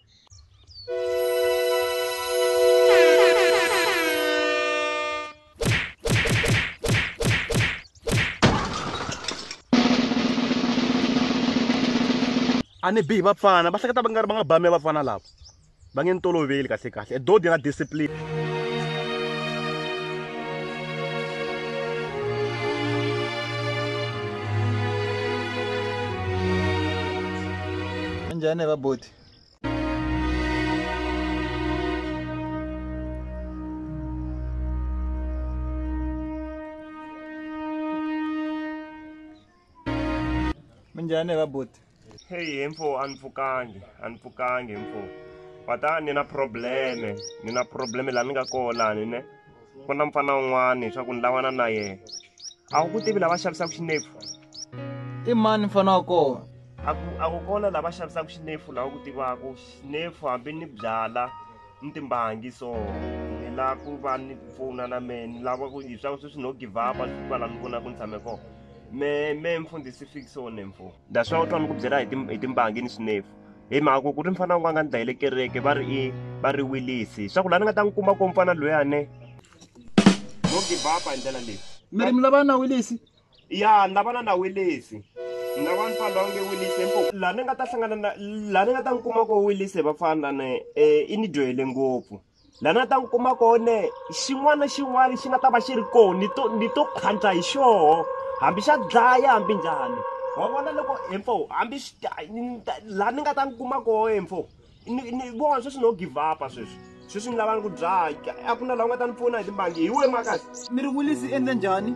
a ni bihi vapfana va hleketa va nga ri va nga bame vapfana lava va nge ni toloveli kahle kahle e dodi na discipline njhani vaboti minjhani va buti heyi he mfo a ni pfukangi a ni pfukangi mfo va ta ni na probleme ni na probleme laha ni nga koho lani ne ku na mfana un'wana leswaku ni lavana na yena a wu ku tivi lava xavisaka xinepfu i mani mfana wa kona a ku a ku kona lava xavisaka xinepfu lawa ku tivaka xinepfu hambi ni byala ni timbangi so ni lava ku va ni ku pfuna na mehe ni lava ku hi swa sweswi no give up a swi va la ni vona ku ni tshame kona me me mfundhisi fixone mfo that's why u twa ni ku byela hi hi timbangi ni swinefu hi mhaka ku ku ri mfana wun'wana nga ni dlayele kereke va ri i va ri wilisi swa ku laha ni nga ta n'wi kuma ko mfana loyane no give up hi ndlela leyi mi ri mi lavana na wilisi ya ni lavana na wilisi ni lava ni fana onge wilisi mpo laha ni nga ta hlangana na laha ni nga ta n'wi kuma ko wilisi vafana ni um i ni dyohele ngopfu la na ta n'wi kuma kone xin'wana na xin'wana xi nga ta va xi ri koho ni to ni to khandla hi xoho hambi xa dlaya hambi njhani wa vona loko hemfo hambi laha ni nga ta n'wi kuma koho hemfo ni ni vona sweswi no give upa sweswi sweswi ni lavani ku dlaya a ku na laha u nga ta ni pfuna hi timbangi hi we makazi mi ri wilisi endle njhani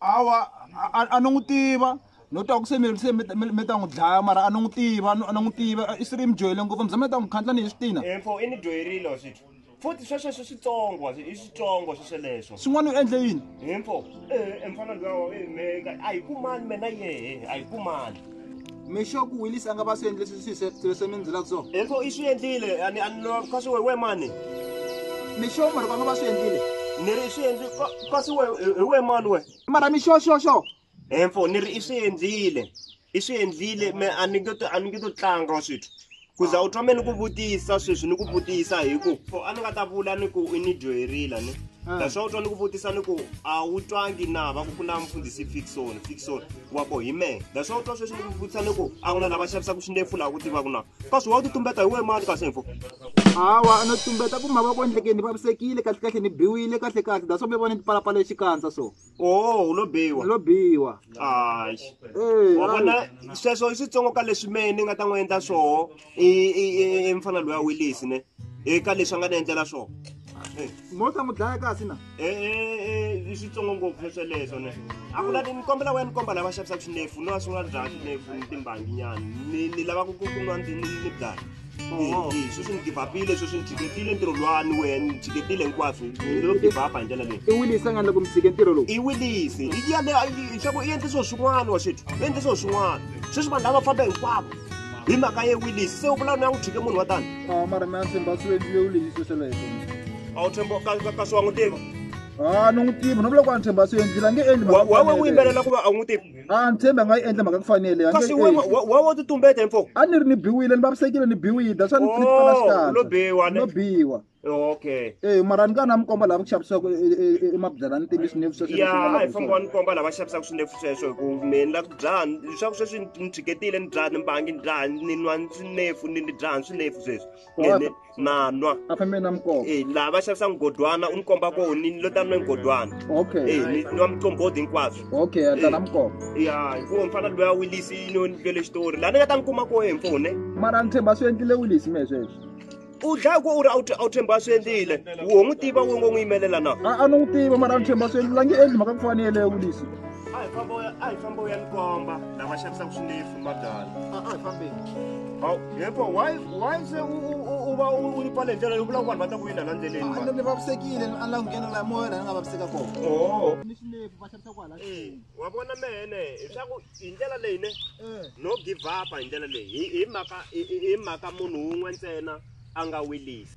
awa a ni n'wi tiva no twa ku se mi se mi ta n'wi dlaya mara a ni n'wi tiva a ni n'wi tiva i swi ri mi dyohele ngopfu mi za mi ta n'wi khandla ni hi swi tina info i ni dyoherile wa swithu futhi swesweswo switsongo i switsongo swesweleswo swin'wana u endle yini info eh, eh, mfana luyawa eh, a yi kumani mena yehe a yi kumani mixo ku wilisa a nga va swi endle leswi mi ndzela ku swona info i swi endlile ani ani lo ka swi we mani mixo mara va nga va swi endlile ni ri i swi endli ka swi we hi we mani we mara mixo xo xo info ni ri i swi endlile i swi endlile me a ni nge to a ni nge to tlanga wa swithu ku za u twa me ni ku vutisa sweswi ni ku vutisa hi ku for a ni nga ta vula ni ku i ni dyoherila ni ah. that's why u twa ni ku vutisa ni ku a wu twangi na va ku ku na mfundhisi fixon fixon wa ko hi mehe that's why u twa sweswi ni ku vutisa ni ku a ku na lava xavisaka swindefu laha ku tivaku na kasi wa u ti tumbeta hi wehe mani kasi info hawa no tumbeta ku mavoko endlekeni ni vavisekile kahle kahle ni biwile kahle kahle that's why mi vona ni tipalapala xikandza so oh u lo biwa lo biwa hayi Eh, wa vona hayi. sweswo i switsongo ka leswi mehe ni nga ta n'wi endla swoho i- i- i- i mfana loyi a wilisi ne eka leswi a nga ni endlela swoho mo ta n'wi dlaya kasi na i switsongo ngopfu sweleswo ne a ku lati ni kombela wena ni komba lava xavisaka swinefu no va swi nga byala swinefu ni timbanginyana ni ni lava ku ku ku nwa ni ni- ni byala Oh. Eh, eh, sweswi ni givapile sweswi ni tshikekile ntirho lwani wena ni tshikekile hinkwaswo lo givapa hi ndlela leyi i wilisa nga loko mi tshike ntirho lowu i wilisi i yale xaku i endle swilo swin'wana wa xetu i endle swilo swin'wana sweswi vanhu lava famba hinkwavo hi mhaka ye wilisi se u vula ni ya n'wi tshike munhu wa tani a mara mi ya tshemba swi endliwe wilisi sweleswo a wu tshemba ka swi wa n'wi tiva a ni n'wi tivi no vula ku a ni tshemba swi endlile a nge endli wawe u yimbelela ku va a n'wi tivi a ni tshembi a nga yi endla mhaka ku fanele a kasi nge yi wena endli. wa- wa wo tutumbeta info a ni ri ni biwile ni vavisekile ni biwile that's why ni ni pfala Oh, xikandza. lo biwa, ne? no biwa okay Eh mara ni ka na mi komba lava ku xavisaka emabyalani ntiyiso ni vuxoxo ya a hi famba ni komba lava xavisaka swinefu sweswo hi ku mina ni la ku dzaha leswaku sweswi ni tshiketile ni dzaha ni mbangi ni dzaha ni nwa swinefu ni ni dzaha swinefu sweswi Ni- ni- na nwa a fambe na mukova e laha va xavisa mugodwana u ni komba ko ni lo ta nwe mugodwana okay e ni nwa mucombodi hinkwaswo okay a ta na mukova ya hikuva mfana loya wilisi yi no ni twele xitori laha ni nga ta ni kuma ko hi mfone mara ni tshemba swi endlile wilisi me sweswo u dlaya ku u ri a wu tshemba a swi endlile wo n'wi tiva wo ngo n'wi yimelela na a a ni n'wi tiva mara a ni tshemba swi endlile a nge endli mhaka ku fanele ya wilisi a hi famba a hi famba u ya ni komba lava xavisaka swinefu madala Hawu, yebo why why se u- u- u- uba u- ulipha le ndlela yokuba abantu bata kuyinda la ndleleni manje? ni vavisekile ala nghena la moya la ni nga vaviseka kona Oh. ni xinefu va xavisa kwala Eh, wa vona mene leswaku hi ndlela leyi ne no give up hi ndlela leyi hi hi mhaka hi- hi hi mhaka munhu wun'we ntsena a nga wilisi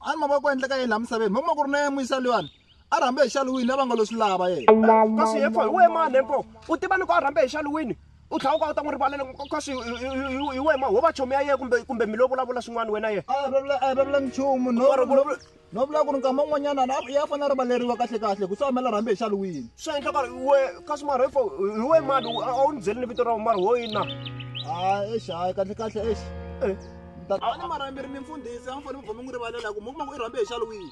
a ni mavoko endleka yini laha misaveni mama ku ri na yemuyisa luyani a rhambe hi xaluwini lava nga lo swi lava yena kasi yefo hi wena mani yefo u tiva loko a rhambe hi xaluwini u tlhela u ka u ta n'wi rivalela kasi hi wena ma ho va chomi ya yena kumbe kumbe mi lo vulavula swin'wana wena yena a vulavula a vulavula nchumu no no vula ku ri nkama un'wanyana ya fanele a rivaleriwa kahle kahle ku swi amela rhambe hi xaluwini swi endla ku ri we kasi mara yefo hi wena mani a wu ni byeli ni vito ra mara wo yini na a exi hayi kahle kahle exi a ni marhamberi ni mfundhisi a mi fanele mi vhome n'wi rivalela ku mi kuma ku i rhambe hi xalo wihi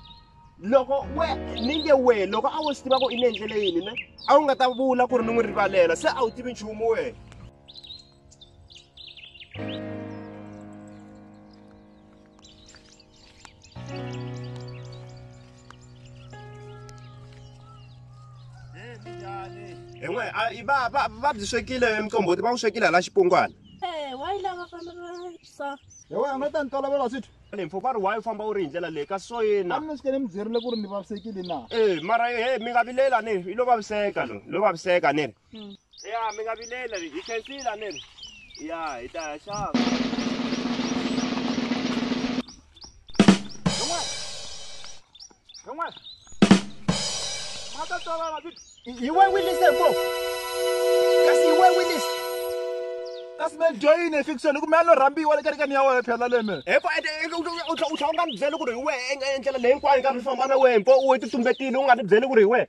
loko we ni nge we loko a wo swi tiva ku i ni endlele yini ne a wu nga ta vula ku ri ni n'wi rivalela se a wu tivi nchumu wena i va va va byi swekile mqombhoti va wu swekile hala xipungwana eh, wa yi lava fana sa hi wena no ta ni tolovela swithu mpfhu va ri wa yi famba u ri hi ndlela leyi kasi so yena a mi ni swi kele mi byerile ku ri ni vavisekile na e mara he mi nga vileli a ni ri i lo vaviseka lo lo vaviseka ni ri ya mi nga vilela hi khensila ni ri ya hi ta ya xava yi we wilise ko kasi yi we wilise kasi me joyine fiction ku me a no rhambiwa le kerekeni ya wena phela leme hiko u tlha u nga ni byeli ku ri hi wehe endlela leyi hinkwayo nkarhi u famba na wehe mpo u we titumbetile u nga ni byeli ku ri hi wehe